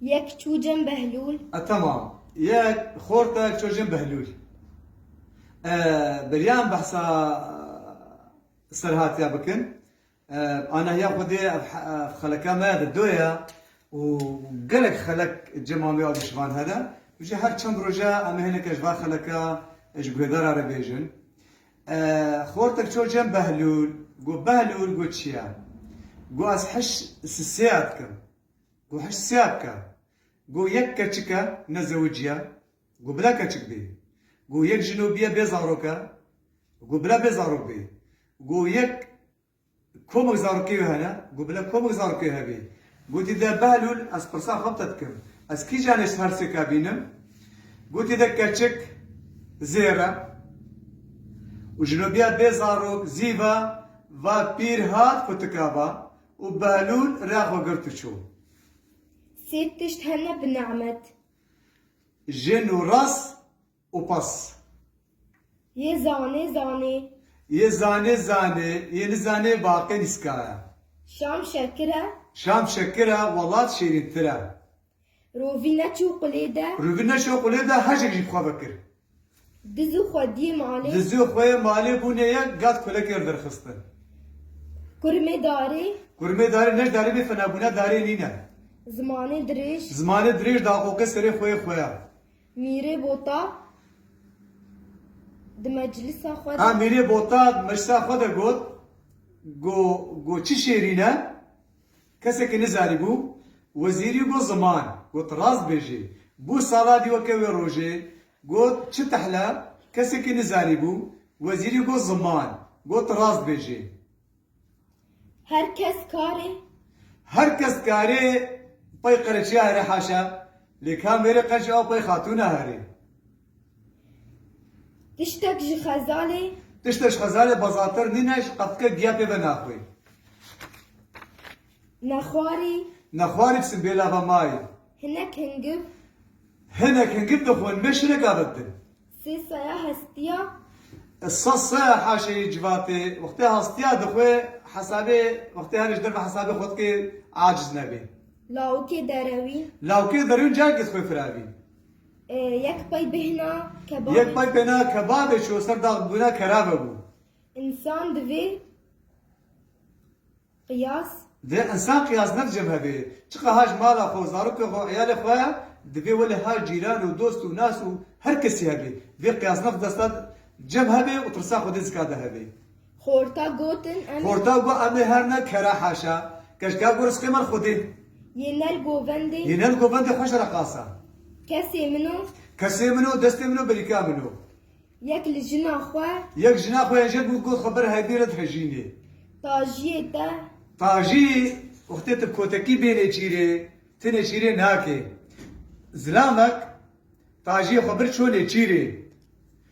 Yek çûcem Behlûl. E temam. Yek xort e yek çûcem Behlûl. E beriyan behsa serhatiya bikin. E anahiya Xwedê ev xeleka me de do ye û gelek xelek cema me ya de ji van hene. Ji her çend roje em ê hineke ji van xeleka ji guhêdara re bêjin. E xortek çûcem Behlûl. Got Behlûl got çi ye? Got ez hiş sisêya dikim. Go heşt sya bike. Go yek keçik e, ne zewicî ye. Go bile keçik bê. Go yek jinobîye bê zarok e. Go bile bê zarok bê. Go yek komik zarokê wê hene. Go bile komik zarokê wê hebê. Gotî de Behlûl ez pirsa xwe bi te dikim. Ez kîjan li her sêke bînim? Gotî de keçik zêr e. Û jinobîya bê zarok zî va, va pîr hat kutika va, Û Behlûl rê xwe girt û çû. Sê tişt hene bi nemet. Jin û ras û pas. Yê zanê zanê. Yê zanê zanê. Yê nizanê baqê nîska e. Şam şekir e. Şam şekir e, welat şêrîntir e. Rovî neçû qulê de. Rovî neçû qulê de hejek jî bi xwe ve kir. Dizû xwediyê malê. Dizû xweyê malê bûnê ye gat kulekê li vir xistin. Kurmê darê. Kurmê darê neç darê bê fine bûne darê nîne. Zimanê dirêj. Zimanê dirêj daqoqê serê xweyê xweya. Mîrê bota di meclisa xwe de. Ha mîrê bota di meclisa xwe de got, Go go çi şêrîn e. Kesekî nizanîbû wezîrî bo ziman got rast bêjê. Bo sala dî weke wê rojê got çi tehla kesekî nizanîbû wezîrî bo ziman got rast bêjê. Her kes karê. Her kes karê pey qereçiya here haşa lê kam verê qeç aw pey xatûna herê. Tiştek ji xezalê. Tiştek ji xezalê bazatir nîne ji qefke giya pê ve naxwî. Nexwarî. Nexwarî bisin bê lava mayê. Hinek hingib. Hinek hingib dixwin me şirek avêtin. Sê saya hestiya. Sas saya haşeyî civatê wextê hastiya dixwe hesabê wextê her ji derve hesabê xwe dikê aciz nebê. Lawikê derewî. Lawikê derewî cayekê dixwe firavî. Yek pey bêhna kebabê. Yek pey bêhna kebabê çû ser dax bûna kerabe bû. Însan divê qiyas. Divê însan qiyas ne dicem hevê. Çiqa ha ji mala xwe û zarokê xwe û îyalê xwe ya, divê wele ha cîran û dost û nas û her kesî hevê. Vê qiyas ne xwe desta cem hevê û tirsa xwedê zika de hevê. Xorta gotin em ê. Xorta got em ê her ne kere heşe. Keşka ku risqê me li Xwedê. Yê nel govendê. Yê nel govendê xweş re qasa. Kesê min o. Kesê min o, destê min o, berîka min o. Yek li jina xwe. Yek jina xwe yên jêr bû got xwe bir heybî re dihejînê. Tajiyê te. Tajî, wextê tu kotekî bênê çîrê, tu nêçîrê nake. Zilamek, tajiyê xwe bir çû nêçîrê.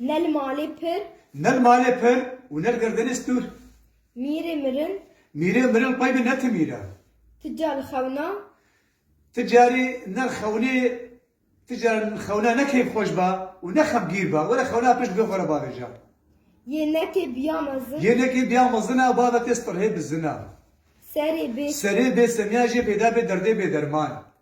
Ne li malê pir. Ne li malê pir û ne li gerdinê stûr. Mîrê mirin. Mîrê mirin qey bi ne ti mîr e. Ti ca li xewna. Ti carî ne li xewnê Ti ca li xewna ne keyfxweş be û ne xemgîr be. Were xewna pişt bê xwe re bavêje. Yê nekê biya mezin. Yê nekê biya mezin e, bavê tê stirhê bizin e. Serê bê. Serê bê semiya jê peyda bê derdê bê derman.